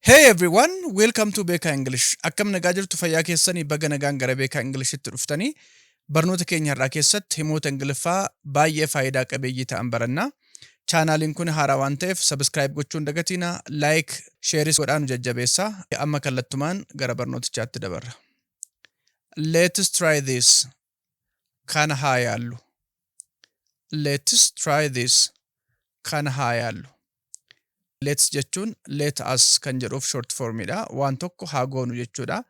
Hey everyone, welcome to Beekaa English. Akkam nagaa jirtu fayyaa keessanii baga nagaan gara Beekaa Englishitti dhuftanii barnoota keenya har'aa keessatti himoota Ingiliffaa baay'ee faayidaa qabeeyyii ta'an baranna. Chaanaaliin kun haaraa waan ta'eef subscribe gochuun dagatiina like, shares godhaa nu jajjabeessaa. Amma kallattumaan gara barnootichaatti dabarra. Let's try this. Kana haa yaallu. Let's try this. Kana haa yaallu. Let's jechuun let us kan jedhuuf short form dha. Waan tokko haa goonu jechuudha.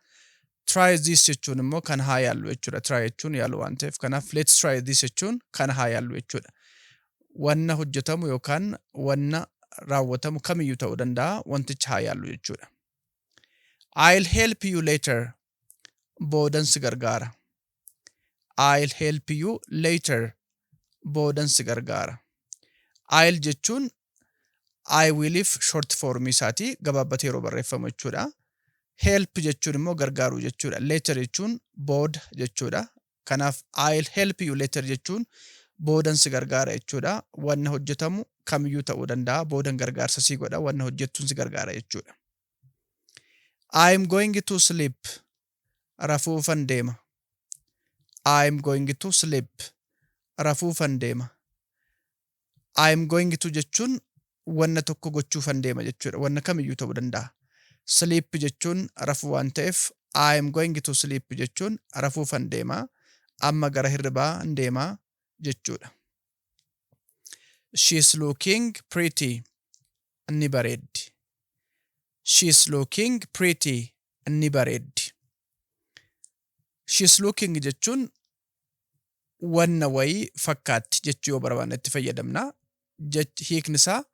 Try this jechuun immoo kana haa yaallu jechuudha. Try jechuun yaalu waan ta'eef kanaaf let's try this jechuun kana haa yaallu jechuudha. Wanna hojjetamu yookaan wanna raawwatamu kamiyyuu ta'uu danda'a wanticha haa yaallu jechuudha. I'll help you later. boodan si gargaara. I'll help you later boodan si gargaara. I'll jechuun I willif short form isaati gabaabbatee yeroo barreeffamu jechuudha. Help jechuun immoo gargaaruu jechuudha. Later jechuun booda jechuudha. Kanaaf I'll help you later jechuun boodan si gargaara jechuudha. Wanna hojjetamu kamiyyuu ta'uu danda'a. Boodan gargaarsa si godha. Wanna hojjettuun si gargaara jechuudha. I am going to sleep. Rafuufan deema. I am going to sleep. Rafuufan deema. I am going to jechuun wanna tokko gochuufan deema jechuudha. Wanna kamiyyuu ta'uu danda'a. Sleep jechuun rafuu waan ta'eef I am going to sleep jechuun rafuufan deema. Amma gara hirribaa hin deema jechuudha. She is looking pretty. ni bareeddi. She is looking pretty ni bareeddi. She is looking jechuun wanna wayii fakkaatti jechuu yoo barbaanne itti fayyadamna. Jech hiikni isaa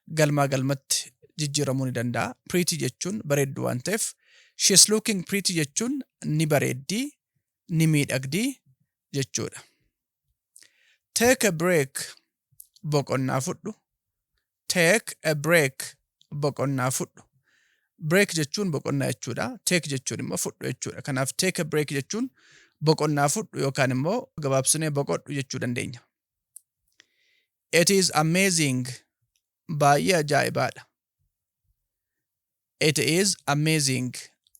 galmaa galmatti jijjiiramuu ni danda'a. Pretty jechuun bareeddu waan ta'eef she is looking pretty jechuun ni bareeddi, ni miidhagdi jechuudha. Take a break boqonnaa fudhu. Take a break boqonnaa fudhu. Break jechuun boqonnaa jechuudha. Take jechuun immoo fudhu jechuudha. Kanaaf take a break jechuun boqonnaa fudhu yookaan immoo gabaabsinee boqodhu jechuu dandeenya. It is amazing. Baay'ee ajaa'ibaadha. It is amazing.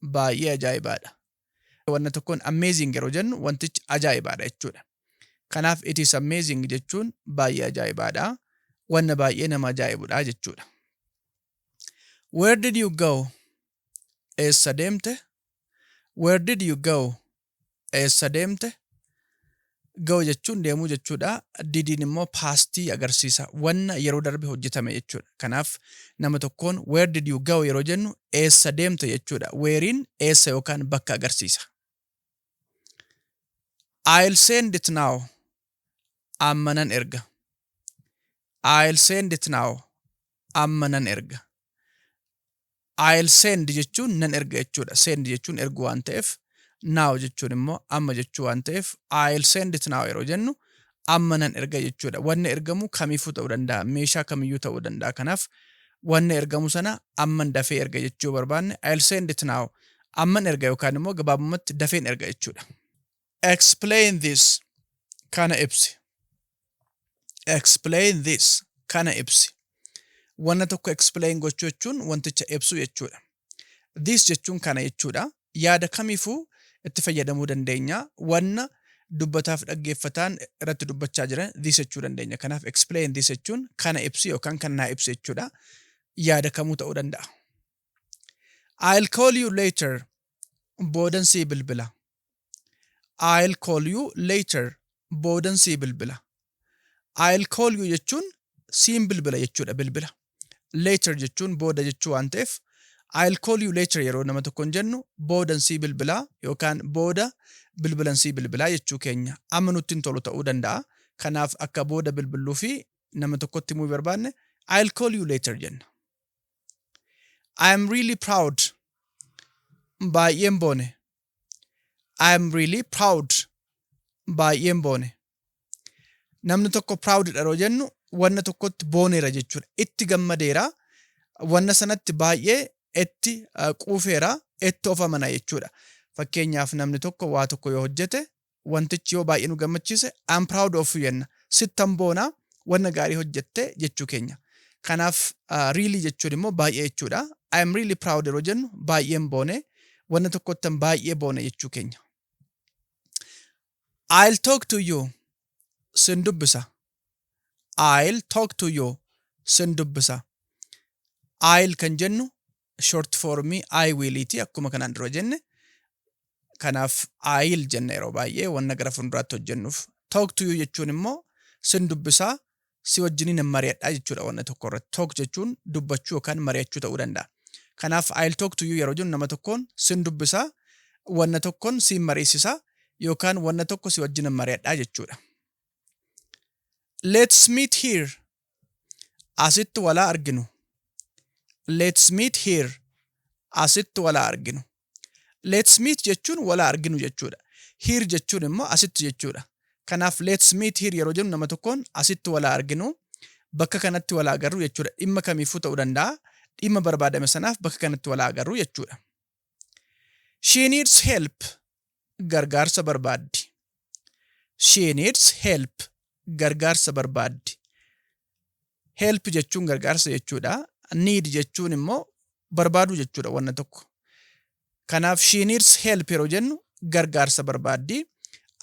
Baay'ee ajaa'ibaadha. Wanna tokkoon amazing yeroo jennu wantichi ajaa'ibaadha jechuudha. Kanaaf it is amazing jechuun baay'ee ajaa'ibaadha. Wanna baay'ee nama ajaa'ibudha jechuudha. Where did you go? Eessa deemte? Where did you go? eessa deemte? Go jechuun deemuu jechuudha. Didiin immoo paastii agarsiisa. Wanna yeroo darbe hojjetame jechuudha. Kanaaf nama tokkoon where did you go yeroo jennu eessa deemte jechuudha. Weeriin eessa yookaan bakka agarsiisa. I'll send it now. Amma nan erga. I'll send it now. Amma nan erga. I'll send jechuun nan erga jechuudha. Send jechuun ergu waan ta'eef now jechuun immoo amma jechuu waan ta'eef I'll send it now yeroo jennu amma nan erga jechuudha. Wanni ergamu kamiifuu ta'uu danda'a. Meeshaa kamiyyuu ta'uu danda'a. Kanaaf wanni ergamu sana amman dafee erga jechuu barbaanne I'll send it now amman erga yookaan immoo gabaabumatti dafeen erga jechuudha. Explain this. Kana ibsi. Explain this. Kana ibsi. Wanna tokko explain gochuu jechuun wanticha ibsuu jechuudha. This jechuun kana jechuudha. Yaada kamiifuu itti fayyadamuu dandeenya. Wanna dubbataaf dhaggeeffataan irratti dubbachaa jiran this jechuu dandeenya. Kanaaf explain this jechuun kana ibsi yookaan kan naa ibsi jechuudha. Yaada kamuu ta'uu danda'a. I'll call you later. Boodan sii bilbila. I'll call you later. Boodan sii bilbila. I'll call you jechuun siin bilbila jechuudha bilbila. Later jechuun booda jechuu waan ta'eef I'll call you later yeroo nama tokkoon jennu boodan sii bilbilaa yookaan booda bilbilan sii bilbilaa jechuu keenya amma nutti hin tolu ta'uu danda'a. Kanaaf akka booda bilbilluu fi nama tokkotti himuu barbaanne I'll call you later jenna. I am really proud. Baay'een boone. I am really proud. Baay'een boone. Namni tokko proud dha yeroo jennu wanna tokkotti booneera jechuudha. Itti gammadeera. Wanna sanatti baay'ee itti uh, quufeera. Itti of amana jechuudha. Fakkeenyaaf namni tokko waa tokko yoo hojjete wantichi yoo baay'ee nu gammachiise I'm proud of you jenna. Sittan boona wanna gaarii hojjette jechuu keenya. Kanaaf really jechuun immoo baay'ee jechuudha. I'm really proud yeroo jennu baay'een boone wanna tokkottan baay'ee boone jechuu keenya. I'll talk to you sin dubbisa. I'll talk to you sin dubbisa. I'll kan jennu short form I will ti akkuma kanaan dura jenne. Kanaaf I'll jenna yeroo baay'ee wanna gara fuulduraatti hojjennuuf. Talk to you jechuun immoo sin dubbisaa si wajjiniin hin mari'adhaa jechuudha wanna tokko irratti. Talk jechuun dubbachuu yookaan mari'achuu ta'uu danda'a. Kanaaf I'll talk to you yeroo jennu nama tokkoon sin dubbisaa, wanna tokkoon siin mariisisaa yookaan wanna tokko si wajjin hin mari'adhaa jechuudha. Let's meet here Asitti walaa arginu. Let's meet here. Asitti walaa arginu. Let's meet jechuun walaa arginu jechuudha. Here jechuun immoo asitti jechuudha. Kanaaf let's meet here yeroo jennu nama tokkoon asitti walaa arginu bakka kanatti walaa agarru jechuudha. Dhimma kamiifuu ta'uu danda'a. Dhimma barbaadame sanaaf bakka kanatti walaa agarru jechuudha. She needs help. Gargaarsa barbaaddi. She needs help. Gargaarsa barbaaddi. Help jechuun gargaarsa jechuudha. Need jechuun immoo barbaaduu jechuudha wanna tokko. Kanaaf she needs help yeroo jennu gargaarsa barbaaddi.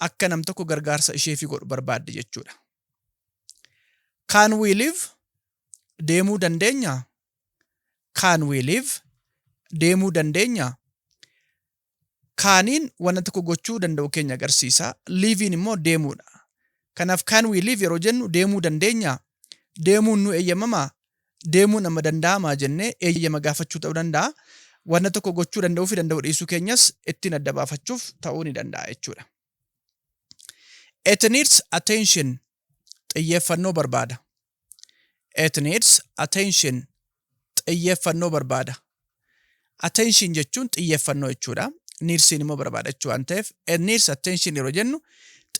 Akka nam tokko gargaarsa isheefi godhu barbaaddi jechuudha. Can we live? Deemuu dandeenya? Can we live? Deemuu dandeenya? Kaaniin wanta tokko gochuu danda'u keenya agarsiisa. Liiviin immoo deemuudha. Kanaaf can we live yeroo jennu deemuu dandeenya? Deemuun nu eeyyamamaa? Deemuun amma danda'amaa jennee eeyyama gaafachuu ta'uu danda'a. Wanta tokko gochuu danda'uu fi danda'uu dhiisuu keenyas ittiin adda baafachuuf ta'uu ni danda'a jechuudha. It needs attention xiyyeeffannoo barbaada. It needs attention xiyyeeffannoo barbaada. Attention jechuun xiyyeeffannoo jechuudha. Needsiin immoo barbaada jechuu waan ta'eef it needs attention yeroo jennu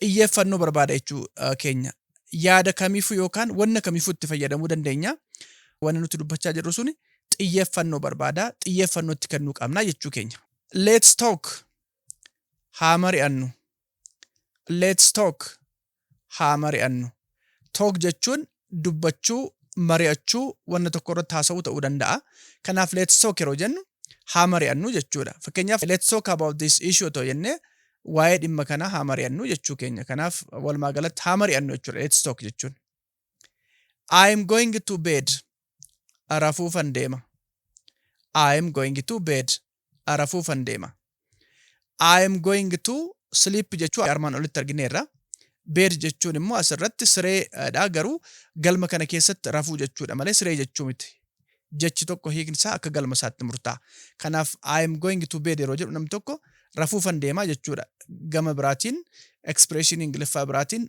xiyyeeffannoo barbaada jechuu uh, keenya. Yaada kamiifuu yookaan wanna kamiifuu itti fayyadamuu dandeenya. Wanni nuti dubbachaa jirru suni xiyyeeffannoo barbaada. Xiyyeeffannoo itti kennuu qabna jechuu keenya. Let's talk Haa mari'annu. Let's talk. Haa mari'annu. Talk jechuun dubbachuu, mari'achuu, wanna tokko irratti haasa'uu ta'uu danda'a. Kanaaf let's talk yeroo jennu haa mari'annu jechuudha. Fakkeenyaaf let's talk about this issue otoo jennee waa'ee dhimma kanaa haa mari'annu jechuu keenya. Kanaaf walumaa galatti haa mari'annu jechuudha let's talk jechuun. I am going to bed. Rafuufan deema. I am going to bed. rafuufan deema. I am going to sleep jechuu armaan olitti argineerra. Bed jechuun immoo asirratti sireedha garuu galma kana keessatti rafuu jechuudha malee siree jechuu miti. Jechi tokko hiikni isaa akka galma isaatti murtaa'a. Kanaaf I am going to bed yeroo jedhu namni tokko rafuufan deema jechuudha. Gama biraatiin expression Ingiliffaa biraatiin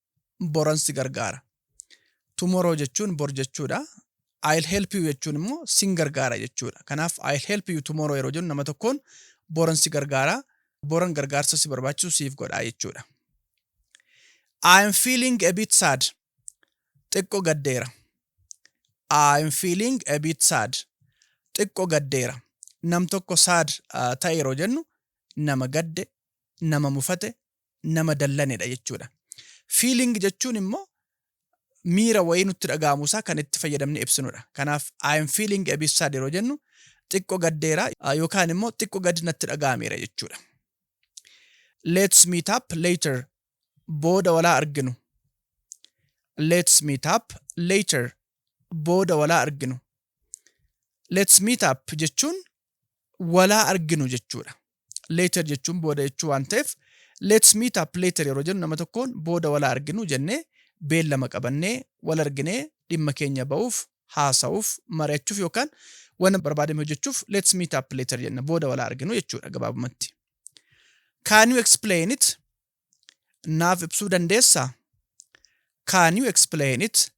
boran si gargaara. Tomorrow jechuun bor jechuudha. I'll help you jechuun immoo sin gargaara jechuudha. Kanaaf I'll help you tomorrow yeroo jennu nama tokkoon boran si gargaara, boran gargaarsa si barbaachisu siif godha jechuudha. I am feeling a bit sad. Xiqqo gaddeera. I am feeling a bit sad. Xiqqo gaddeera. Nam tokko sad uh, ta'e yeroo jennu nama gadde, nama mufate, nama dallanedha jechuudha. Feeling jechuun immoo miira wayii nutti dhaga'amu isaa kan itti fayyadamne ibsinudha. Kanaaf I am feeling a bit sad yeroo jennu xiqqo gaddeera yookaan immoo xiqqo gadi natti dhaga'ameera jechuudha. Let's meet up later booda walaa arginu. Let's meet up later booda walaa arginu. Let's meet up jechuun walaa arginu jechuudha. Later jechuun booda jechuu waan ta'eef let's meet up later yeroo jennu nama tokkoon booda walaa arginu jennee beellama qabannee wal arginee dhimma keenya ba'uuf haasa'uuf mari'achuuf yookaan waan barbaadame hojjechuuf let's meet up later jenna booda walaa arginu jechuudha gabaabumatti. Can you explain it? naaf ibsuu dandeessaa? Can you explain it?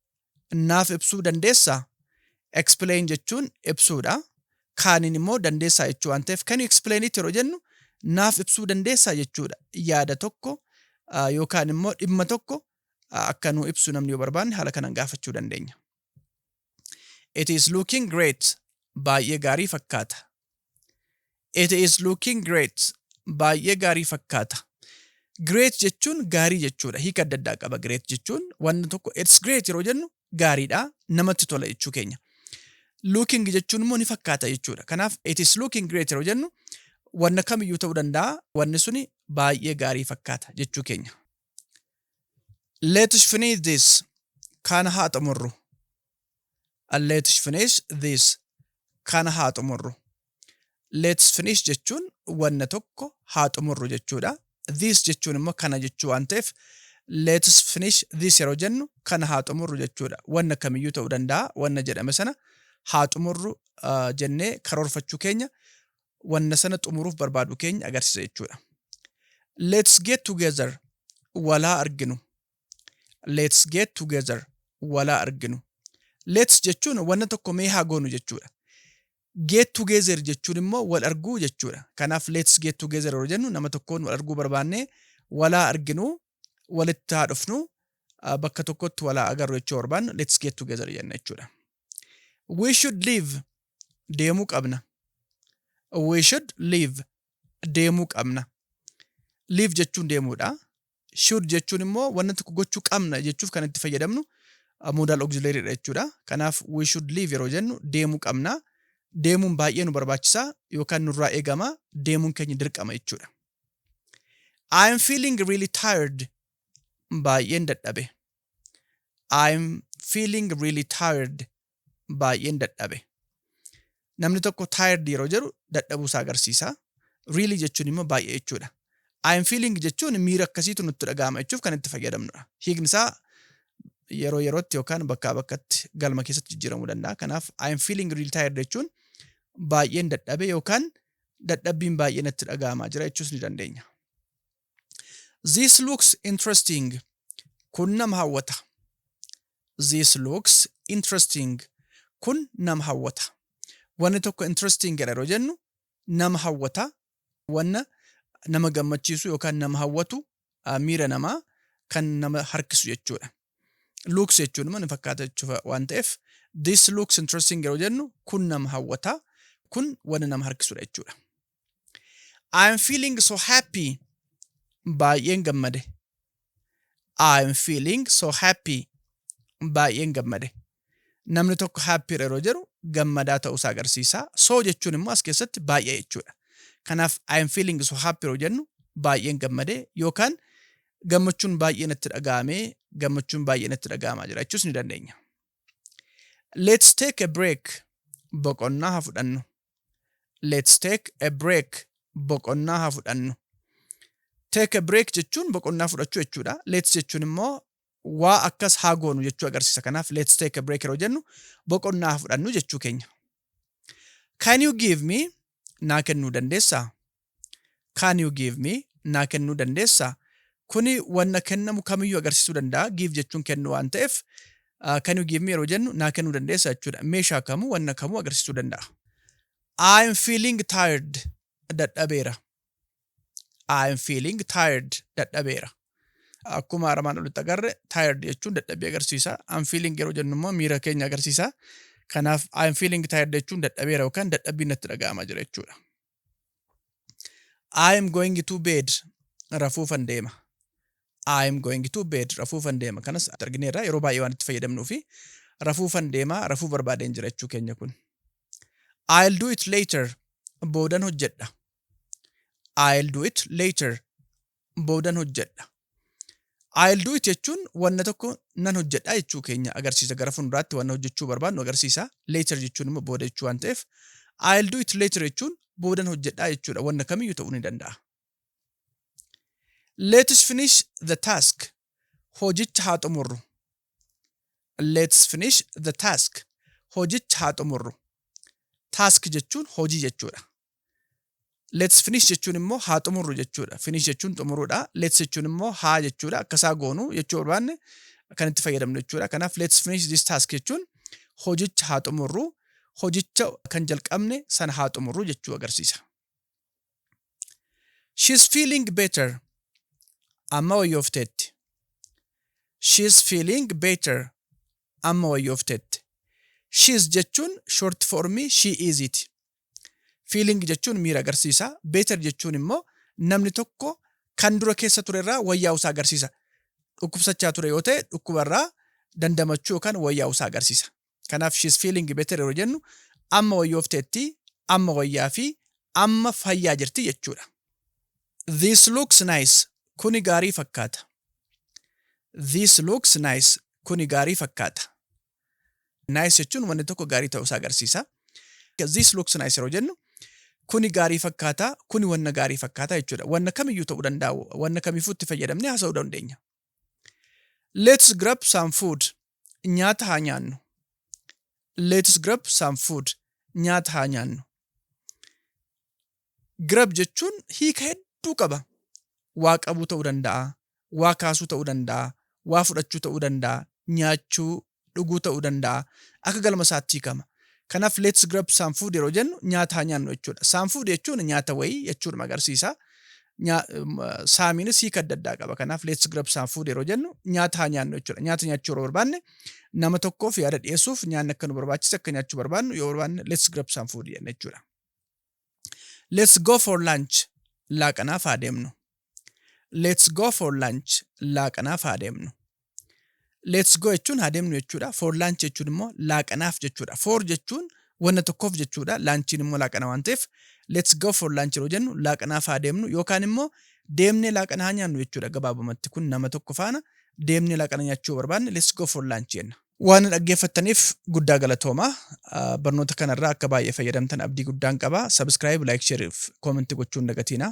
Naaf ibsuu dandeessaa? Explain jechuun ibsuudha. Kaaniin immoo dandeessaa jechuu waan ta'eef can you explain it yeroo jennu naaf ibsuu dandeessaa jechuudha. Yaada tokko ah, yookaan immoo dhimma tokko ah, akka nuu ibsu namni yoo barbaanne haala kanaan gaafachuu dandeenya. It is looking great. Baay'ee gaarii fakkaata. It is looking great. Baay'ee gaarii fakkaata. Great jechuun gaarii jechuudha. Hiika adda addaa qaba great jechuun. Wanni tokko it's great yeroo jennu gaariidha. Namatti tola jechuu keenya. Looking jechuun immoo ni fakkaata jechuudha. Kanaaf it is looking great yeroo jennu wanna kamiyyuu ta'uu danda'a. Wanni suni baay'ee gaarii fakkaata jechuu keenya. Let's finish this. Kana haa xumurru. Let's finish this. Kana haa xumurru. Let's finish jechuun wanna tokko haa xumurru jechuudha. This jechuun immoo kana jechuu waan ta'eef let's finish this yeroo jennu kana haa xumurru jechuudha. Wanna kamiyyuu ta'uu danda'a. Wanna jedhame sana haa xumurru uh, jennee karoorfachuu keenya wanna sana xumuruuf barbaadu keenya agarsiisa jechuudha. Let's get together walaa arginu. Let's get together walaa arginu. Let's jechuun wanna tokko mee haa goonu jechuudha. Get together jechuun immoo wal arguu jechuudha. Kanaaf let's get together yeroo jennu nama tokkoon wal arguu barbaannee walaa arginu walitti haa dhufnu uh, bakka tokkotti walaa agarru jechuu barbaannu let's get together jenna jechuudha. We should leave deemuu qabna. We should leave deemuu qabna. Leave jechuun deemuudha. Should jechuun immoo wanna tokko gochuu qabna jechuuf kan itti fayyadamnu uh, modal auxiliary dha jechuudha. Kanaaf we should leave yeroo jennu deemuu qabna. Deemuun baay'ee nu barbaachisa yookaan nurraa eegama deemuun keenya dirqama jechuudha. I am feeling really tired. Baay'een dadhabe. I am feeling really tired. Baay'een dadhabe. Namni tokko tired yeroo jedhu dadhabuu isaa agarsiisa. Really jechuun immoo baay'ee jechuudha. I am feeling jechuun miira akkasiitu nutti dhaga'ama jechuuf kan itti fayyadamnudha. Hiikni isaa yeroo yerootti yookaan bakkaa bakkatti galma keessatti jijjiiramuu danda'a. Kanaaf I am feeling really tired jechuun baay'een dadhabe yookaan dadhabbiin baay'ee natti dhaga'amaa jira jechuus ni dandeenya. This looks interesting. Kun nama hawwata. This looks interesting. Kun nama hawwata. Wanni tokko interesting jedha yeroo jennu nama hawwata, wanna nama gammachiisu yookaan nama hawwatu, miira namaa kan nama harkisu jechuudha. Looks jechuun immoo ni fakkaata jechuudha waan ta'eef this looks interesting yeroo jennu kun nama hawwata kun wanna nama harkisudha jechuudha. I am feeling so happy baay'een gammade. I am feeling so happy baay'een gammade. Namni tokko happy dha yeroo jedhu gammadaa ta'uu isaa agarsiisa. So jechuun immoo as keessatti baay'ee jechuudha. Kanaaf I am feeling so happy yeroo jennu baay'een gammadee yookaan gammachuun baay'ee natti dhaga'amee gammachuun baay'ee natti dhaga'amaa jira jechuus ni dandeenya. Let's take a break. Boqonnaa haa fudhannu. Let's take a break. Boqonnaa haa fudhannu. Take a break jechuun boqonnaa fudhachuu jechuudha. Let's jechuun immoo waa akkas haa goonu jechuu agarsiisa. Kanaaf let's take a break yeroo jennu boqonnaa haa fudhannu jechuu keenya. Can you give me naa kennuu dandeessaa? Can you give me naa kennuu dandeessaa? Kuni wanna kennamu kamiyyuu agarsiisuu danda'a. Give jechuun kennu waan ta'eef uh, can you give me yeroo jennu naa kennuu dandeessaa jechuudha. Meeshaa kamuu wanna kamuu agarsiisuu danda'a. I am feeling tired dadhabeera. I am feeling tired dadhabeera. Akkuma armaan olitti agarre tired jechuun dadhabbii agarsiisa. I'm feeling yeroo jennu immoo miira keenya agarsiisa. Kanaaf I'm feeling tired jechuun dadhabeera yookaan dadhabbiin natti dhaga'amaa jira jechuudha. I'm going to bed rafuufan deema. I'm going to bed rafuufan deema. Kanas argineerra yeroo baay'ee waan itti fayyadamnuu fi rafuufan deema rafuu barbaadeen jira jechuu keenya kun. I'll do it later boodan hojjedha. I'll do it later. Boodan hojjedha. I'll do it jechuun wanna tokko nan hojjedha jechuu keenya agarsiisa. Gara fuulduraatti wanna hojjechuu barbaadnu agarsiisa. Later jechuun immoo booda jechuu waan ta'eef I'll do it later jechuun boodan hojjedha jechuudha. Wanna kamiyyuu ta'uu ni danda'a. Let's finish the task. Hojicha haa xumurru. Let's finish the task. Hojicha haa xumurru. Task jechuun hojii jechuudha. Let's finish jechuun immoo haa xumurru jechuudha. Finish jechuun xumuruudha. Let's jechuun immoo haa jechuudha. Akkasaa goonu jechuu barbaanne kan itti fayyadamnu jechuudha. Kanaaf let's finish this task jechuun hojicha haa xumurru, hojicha kan jalqabne sana haa xumurru jechuu agarsiisa. She's feeling better. Amma wayyoofteetti. She's feeling better. Amma wayyoofteetti. She's jechuun short formii she is iti. Feeling jechuun miira agarsiisa. Better jechuun immoo namni tokko kan dura keessa ture irraa wayyaa'u isaa agarsiisa. Dhukkubsachaa ture yoo ta'e dhukkuba irraa dandamachuu yookaan wayyaa'u isaa agarsiisa. Kanaaf she's feeling better yeroo jennu amma wayyoofteetti, amma wayyaa fi amma fayyaa jirti jechuudha. This looks nice. Kuni gaarii fakkaata. This looks nice. Kuni gaarii fakkaata. Nice jechuun wanni tokko gaarii ta'uu isaa agarsiisa. This looks nice yeroo jennu kuni gaarii fakkaata, kuni wanna gaarii fakkaata jechuudha. Wanna kamiyyuu ta'uu danda'a, wanna kamiifuu itti fayyadamnee haasa'uu dandeenya. Let's grab some food. Nyaata haa nyaannu. Let's grab some food. Nyaata haa nyaannu. Grab jechuun hiika hedduu qaba. Waa qabuu ta'uu danda'a, waa kaasuu ta'uu danda'a, waa fudhachuu ta'uu danda'a, nyaachuu, dhuguu ta'uu danda'a. Akka galma isaatti hiikama. Kanaaf let's grab some food yeroo jennu nyaata haa nyaannu jechuudha. Some food jechuun nyaata wayii jechuudhuma agarsiisa. Saamiinis hiika adda addaa qaba. Kanaaf let's grab some food yeroo jennu nyaata haa nyaannu jechuudha. Nyaata nyaachuu yeroo barbaanne nama tokkoof yaada dhiyeessuuf nyaanni akka nu barbaachise akka nyaachuu barbaannu yoo barbaanne let's grab some food jenna jechuudha. Let's go for lunch. Laaqanaaf haa deemnu. Let's go for lunch. Laaqanaaf haa deemnu. Let's go jechuun haa deemnu jechuudha. For lunch jechuun immoo laaqanaaf jechuudha. For jechuun wanna tokkoof jechuudha. Laanchiin immoo laaqana waan ta'eef let's go for lunch yeroo jennu laaqanaaf haa deemnu yookaan immoo deemnee laaqana haa nyaannu jechuudha. Gabaabumatti kun nama tokko faana deemnee laaqana nyaachuu barbaanne let's go for lunch jenna. Waan na dhaggeeffattaniif guddaa galatooma. Ah, Barnoota kanarraa akka baay'ee fayyadamtan abdii guddaan qaba. Subscribe, like, share fi comment gochuun dagatiina.